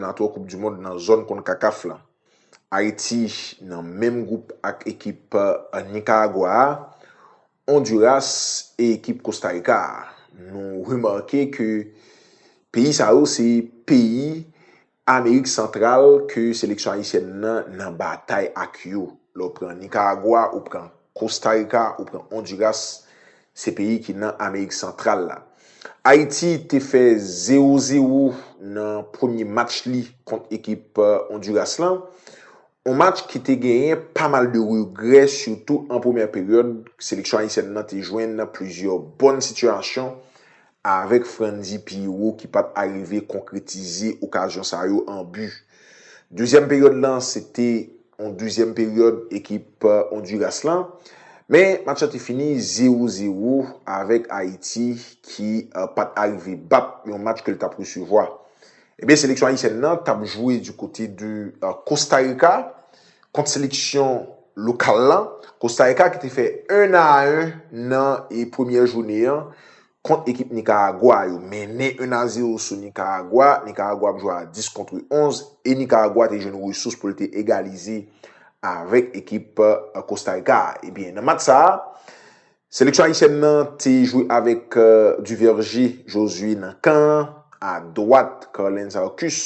nan twa koup du mond nan zòn Concacaf lan. Ayiti nan menm gwoup ak ekip Nikaragwa a, Onduras e ekip Kosta Rika a. Nou remake ke peyi sa yo se peyi Amerik Santral ke seleksyon ayisyèn nan nan batay ak yo. Lè ou pran Nikaragwa, ou pran Kosta Rika, ou pran Onduras, Se peyi ki nan Amerik Santral la. Ayiti te fè zewo zewo nan premye match li kont ekip Onduras lan. On match ki te genyen pa mal de regrè sitou an premyè peryòd seleksyon ayisyèn nan te jwenn plizyè bòn sitiyasyon Avèk Frantzy Pierrot ki pat arive konkretize okazyon sa yo an bi. Dezyèm peryòd lan se te yon dezyèm peryòd ekip Onduras lan, men match lan te fini zewo zewo avèk Ayiti ki pat arive bat yon match ke l tap resevwa. Ebyen seleksyon ayisyèn nan tap jwe du kote de Costa Rica kont seleksyon lokal la, Costa Rica ki te fè 1 a 1 nan premyè joune an kont ekip Nicaragua, yo mennen 1 a 0 sou Nicaragua, Nicaragua ap jwe a 10 contre 11 e Nicaragua te jwenn resous pou l te egalize avèk ekip Costa Rica a. Ebyen nan match sa a, Seleksyon ayisyèn nan te jwe avèk Duvergé Josué nan kan an, a dwat Carlens Arcus,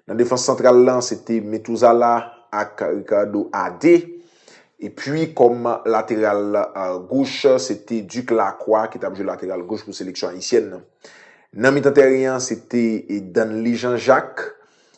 nan defans santral lan se te Metuzala ak Ricardo Adé, epi kòm lateral goch se te Duc Lacroix ki t ap jwe lateral goch pou seleksyon ayisyèn nan. Nan mitan tèren an se te Danley Jean Jacques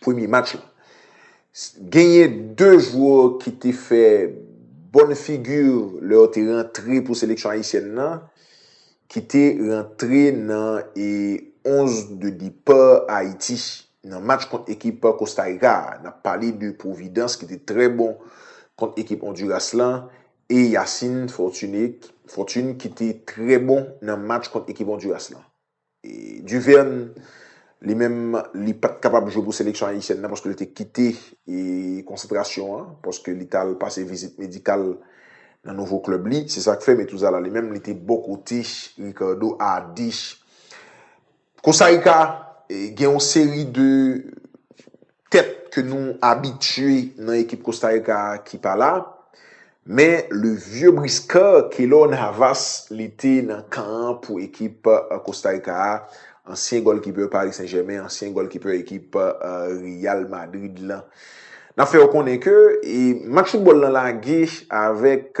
premye match la. Genyen 2 jwè ki te fè bòn figi lè yo te rantre pou seleksyon ayisyèn nan ki te rantre nan 11 de depa Ayiti nan match kont ekip Kostarika a. N ap pale de Providence ki te trè bon kont ekip Ondiras la e Yacine Fortune ki te trè bon nan match kont ekip Ondiras la. Duverne, li menm, li pa t kapab jwe pou seleksyon ayisyèn nan paske li te kite konsantrasyon an, paske li t al pase vizit medikal nan nouvo klèb li. Se sa k fè Metuzala li menm, li te bò kote Ricardo a Dish. Costa Rica gen yon seri de tèt ke nou abitye nan ekip Costa Rica a ki pa la, men le vieux briscard Keylor Navas li te nan kan an pou ekip Costa Rica a, ansyen gòlkipè Paris Saint Germain, ansyen gòlkipè ekip Real Madrid lan. Nap fè ou konnen ke match football lan lage avèk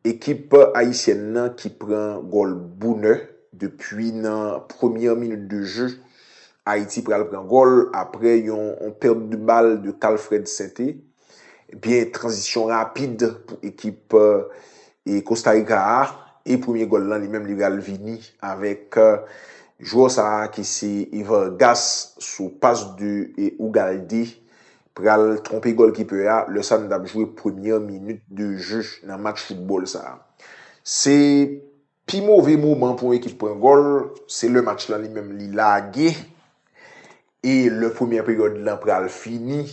Ekip ayisyèn nan ki pran gòl bonè depi nan premyè minit de je. Ayiti pral pran gòl aprè yon pèt de bal de Calfred Sainté. Ebyen tranzisyon rapid pou ekip Kostarika a e premye gòl lan li menm li pral vini avèk jwè sa ki se Vargas sou pas de Ugalde pral twonpe gòlkipè a lè sa nou tap jwe premyè minit de je nan match foutbòl sa. Se pi move moman pou yon ekip pran gòl, se lè match lan li menm li lage e lè premyè peryòd lan pral fini,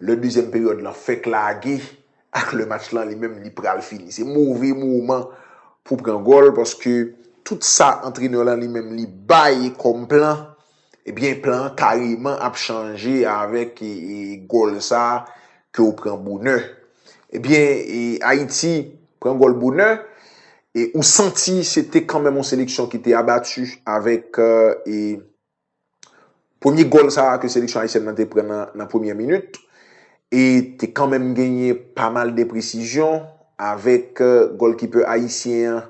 lè dezyèm peryòd lan fèk lage ak lè match lan li menm li pral fini. Se move moman pou pran gòl paske tout sa antrenè lan li menm li bay kòm plan, Ebyen plan an kareman ap chanje avèk gòl sa ke ou pran bonè. Ebyen Ayiti pran gòl bonè e ou santi se te kanmenm yon seleksyon ki te abati avèk premye gòl sa ke seleksyon Ayisyèn nan te pran nan premyè minit e te kanmenm genyen pa mal de presizyon avèk gòlkipè Ayisyen an.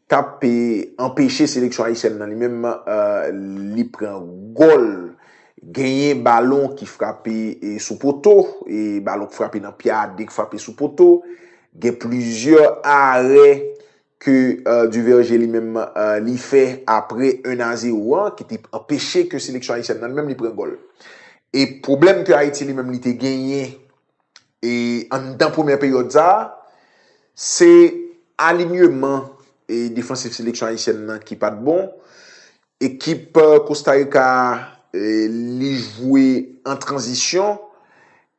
t ap anpeche seleksyon ayisyèn nan li menm li pran gòl. Genyen balon ki frape sou poto, balon ki frape nan pye a, 2 ki frape sou poto. Gen plizyè arè ke Duverger li menm li fè apre 1 a 0 an ki te anpeche ke seleksyon ayisyèn nan li menm li pran gòl. E pwoblèm ke Ayiti li menm li te genyen e anndan premyè peryòd sa a, se alinyeman e defansif seleksyon ayisyèn nan ki pat bon. Ekip Kosta Rika a li jwe an tranzisyon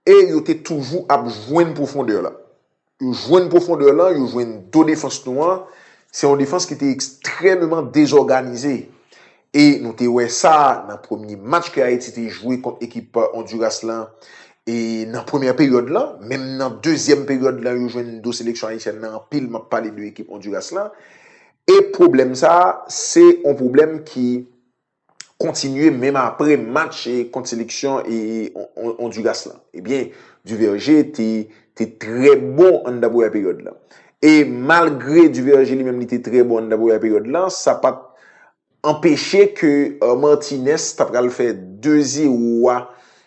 e yo te toujou ap jwenn pwofondè la. Yo jwenn pwofondè lan, yo jwenn do defans nou an, se yon defans ki te ekstrèmeman dezòganize. E nou te wè sa nan premye match ke Ayiti te jwe kont ekip Onduras lan e nan premyè peryòd lan, menm nan dezyèm peryòd lan yo jwenn do seleksyon ayisyèn lan anpil, map pale de ekip Onduras lan. E pwoblèm sa a, se yon pwoblèm ki. kontinye menm apre match kont seleksyon Onduras la. Ebyen, Duverger te trè bon anndan premyè peryòd la. E malgre Duverger li menm li te trè bon anndan premyè peryòd la, sa pa t anpeche ke Martinez ta pral fè 2-0 a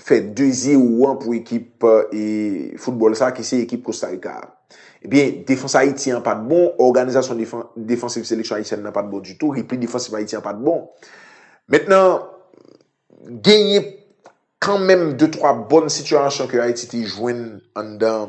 fè 2 zero an pou ekip e foutbòl sa ki se ekip Kosta Rika a. Ebyen, defans Ayiti an pat bon, òganizasyon defansiv seleksyon Ayisyèn nan pat bon ditou, repli defansif Ayiti an pat bon. Mentnan, genyen kanmenm 2 twa bòn sitiyasyon ke Ayiti te jwenn anndan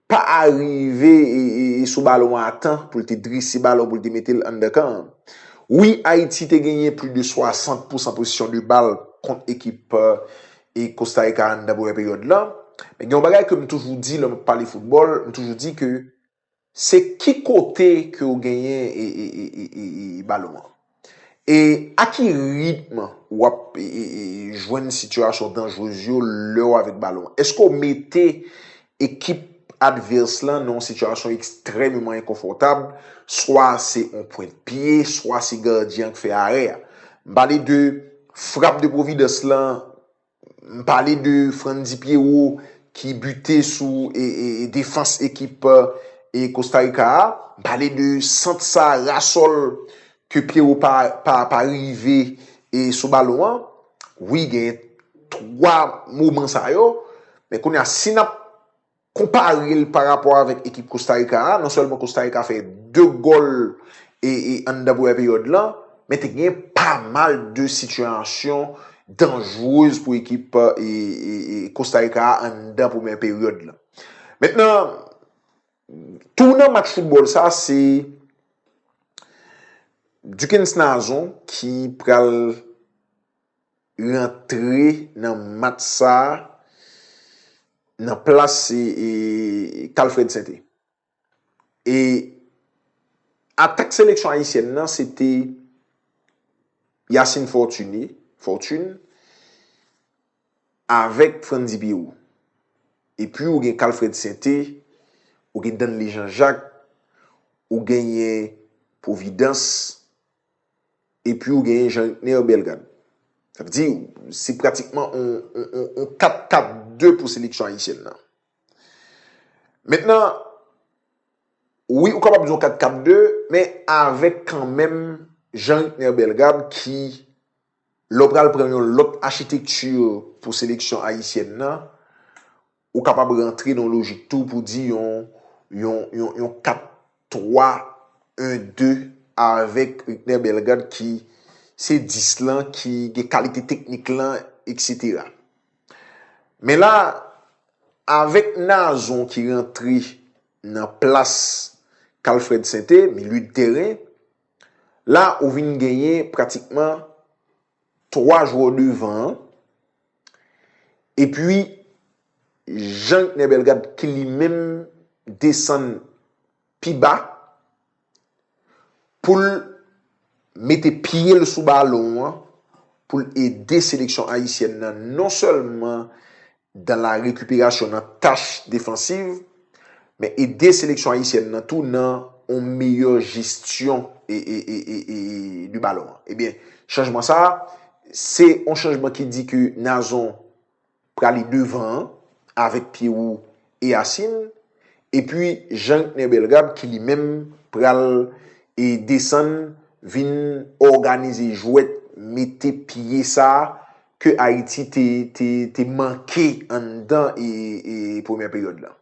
pa arive sou balon an a tan pou l te drese balon pou l te mete l anndan kan an. Wi, Ayiti te genyen plis de 60 pousan pozisyon de bal kont ekip Kostarika a anndan premyè peryòd la. Men gen yon bagay ke m toujou di lè m ap pale foutbòl, m toujou di ke se ki kote ke ou genyen balon an. E a ki ritm w ap jwenn sitiyasyon danjrez yo lè w avèk balon an? Èske w mete ekip advès lan nan yon sitiyasyon ekstrèmeman enkonfòtab, swa se yon pwent pye, swa se gadyen an ki fè arè a? M pale de frap de Providence lan M pale de Franndy Pierrot ki bute sou defans ekip Costa Rica a. M pale de sant sa ra sòl ke Pierrot pa rive sou balon an. Wi genyen 3 moman sa yo. Men kounye a si n ap. Konpare l pa rapò avèk ekip Kosta Rika a, non sèlman Kosta Rika fè 2 gòl anndan premyè peryòd lan, men te gen pa mal de sitiyasyon danjrez pou ekip Kosta Rika a anndan premyè peryòd lan. Mentnan, tou nan match foutbòl sa, se Duckens Nazon ki pral rantre nan match sa nan plas Calfred Sainté. E atak seleksyon ayisyèn nan se te Yacine Fortuné, Fortune, avèk Frantzy Pierrot. E pi ou gen Calfred Sainté, ou gen Danley Jean Jacques, ou genyen Providence. Epi ou genyen Jean Ritner Bellegarde. Sa vle di, se pratikman yon 4-4-2 pou seleksyon ayisyèn nan. Mentnan, wi ou kapab di yon 4-4-2, men avèk kanmenm Jean Ritner Bellegarde ki... Lè w pral pran yon lòt achitekti pou seleksyon ayisyèn nan, ou kapab rantre nan yon lojik tou pou di yon yon 4, 3, 1, 2 avèk Ritner Bellegarde ki se 10 lan ki gen kalite teknik lan eksetera. Men la, avèk Nazon ki rantre nan plas Carl Fred Sainté, milieu de terrain, La ou vin genyen pratikman 3 jwè devan an. E pi Jean Gnè Bellegarde ki li menm desann pi ba pou l mete pye l sou balon an pou l ede seleksyon ayisyèn nan non sèlman dan la rekiperasyon nan tach defansiv, men ede seleksyon ayisyèn nan tou nan yon meyè jesyon de balon an. Ebyen, chanjman sa a, se yon chanjman ki di ke Nazon prale devan an, avèk Pierrot e Yacine, epi Jean-René Bellegarde ki li menm pral desann vin òganize jwèt mete pye sa a, ke Ayiti te manke anndan premyè peryòd la.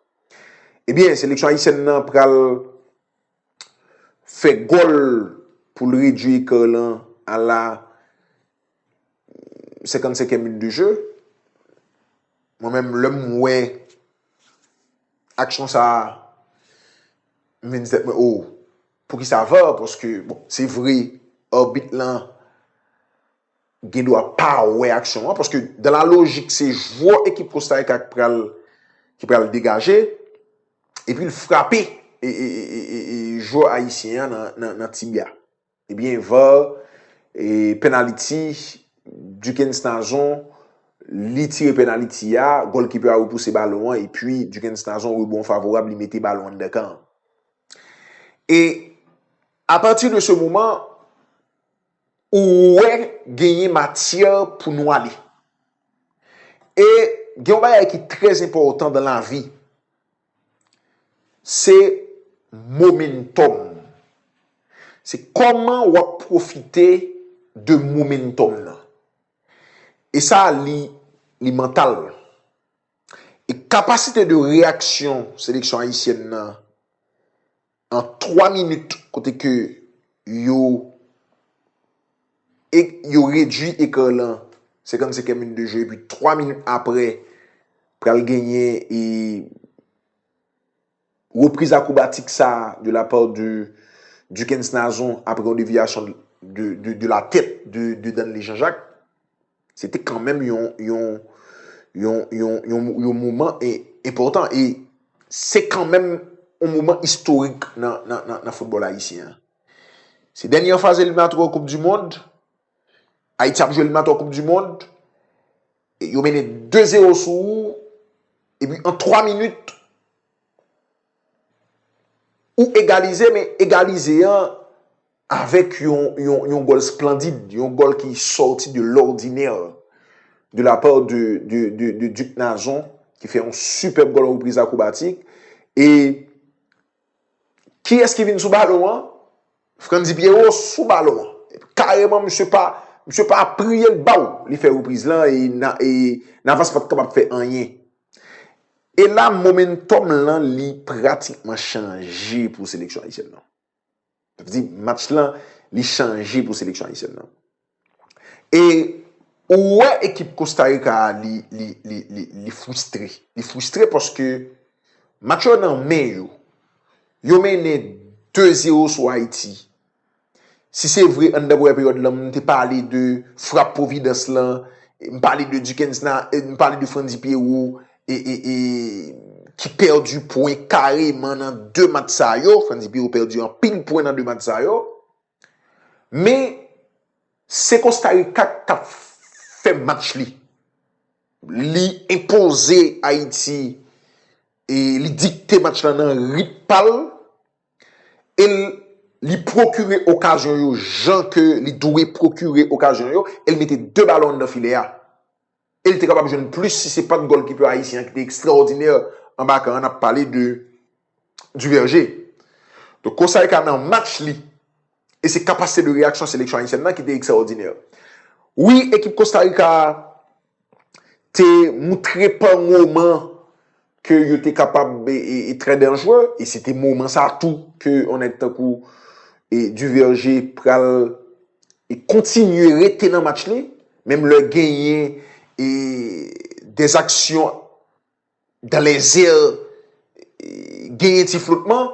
Ebyen, seleksyon ayisyèn nan pral fè gòl pou l redui ekò lan a la 55 è minit de je. Mwen menm lè m wè aksyon sa a, m vin di tèt mwen, oh, poukisa var? Paske, bon, se vre, arbit lan, gen dwa pa wè aksyon an paske dan la lojik se jwè ekip Kostarika ki pral ki pral degaje epi l frape e jwè ayisyen an nan tibia ebyen var e pènaliti Dukens Nazon li tire pènaliti a gòlkipè a repouse balon an epi Dukens Nazon rebon favorab li mete balon anndan kan e apati de se moman Ou wè genyen matyè pou nou ale. E gen yon bagay ki trè zenpòtan dan lavi. Se momentòm. Se kòman w ap pwofite de momentòm nan. E sa li mantal. E kapasite de reyaksyon seleksyon ayisyèn nan. An 3 minit kote ke yo yo redwi ekran lan 55 è min de jeu epi 3 minit aprè pral genyen e repriz akrobatik sa de la part de Duckens Nazon aprè yon deviation de la tèt de Danley Jean Jacques. Se te kanmenm yon, yon, yon, yon, yon, yon moman e, enpòtan e se kanmenm yon moman istorik nan, nan, nan, nan foutbòl ayisyen an. Se dènye faz eliminatwè koup di mond, Ayiti ap jwe eliminatwè koup di mond, e yo mennen 2 zero sou ou, epi an 3 minit, ou egalize men egalize an, Avèk yon gòl splandid, yon gòl ki sòti de lòdinè de la pa de Duc Nazon ki fè yon sipèb gòl an repriz akrobatik. E kiyès ki vin sou balon an? Frantzy Pierrot sou balon an. Kareman misye pa apriye l baw li fè repriz lan e Navas pat kapab fè anyen. E la momentòm lan li pratikman chanje pou seleksyon ayisyèn lan. Sa vle di match lan li chanje pou seleksyon ayisyèn nan. E ou wè ekip Kosta Rika a li fwistre. Li fwistre paske match yo nan men yo. Yo mennen 2-0 sou Ayiti. Si se vre anndan premyè peryòd lan m te pale de frap pwovidans lan, m pale de Duckens nan, m pale de Frantzy Pierrot, e e e ki pèdi pwen kareman nan 2 match sa yo, Frans Biwo pèdi anpil pwen nan 2 match sa yo, men se Kosta Rika k tap fè match li, li enpoze Ayiti e li dikte match la nan rit pa l, e l li pwokire okazyon yo jan ke li dwe pwokire okazyon yo, e l mete 2 balon anndan filè a. E li te kapab jwenn plis si se pat gòlkipè ayisyen an ki te ekstraòdinè anba kan an, n ap pale de Duverger. Donk Costa Rica nan match li e se kapasite de reyaksyon seleksyon ayisyèn nan ki te ekstraòdinè. Wi ekip Costa Rica a te moutre pa moman ke yo te kapab e trè danjre, e se te moman sa tou ke yon nèg tankou e Duverger pral e kontinye rete nan match li, menm lè genyen e des aksyon dan lèzè e genyen ti flotman.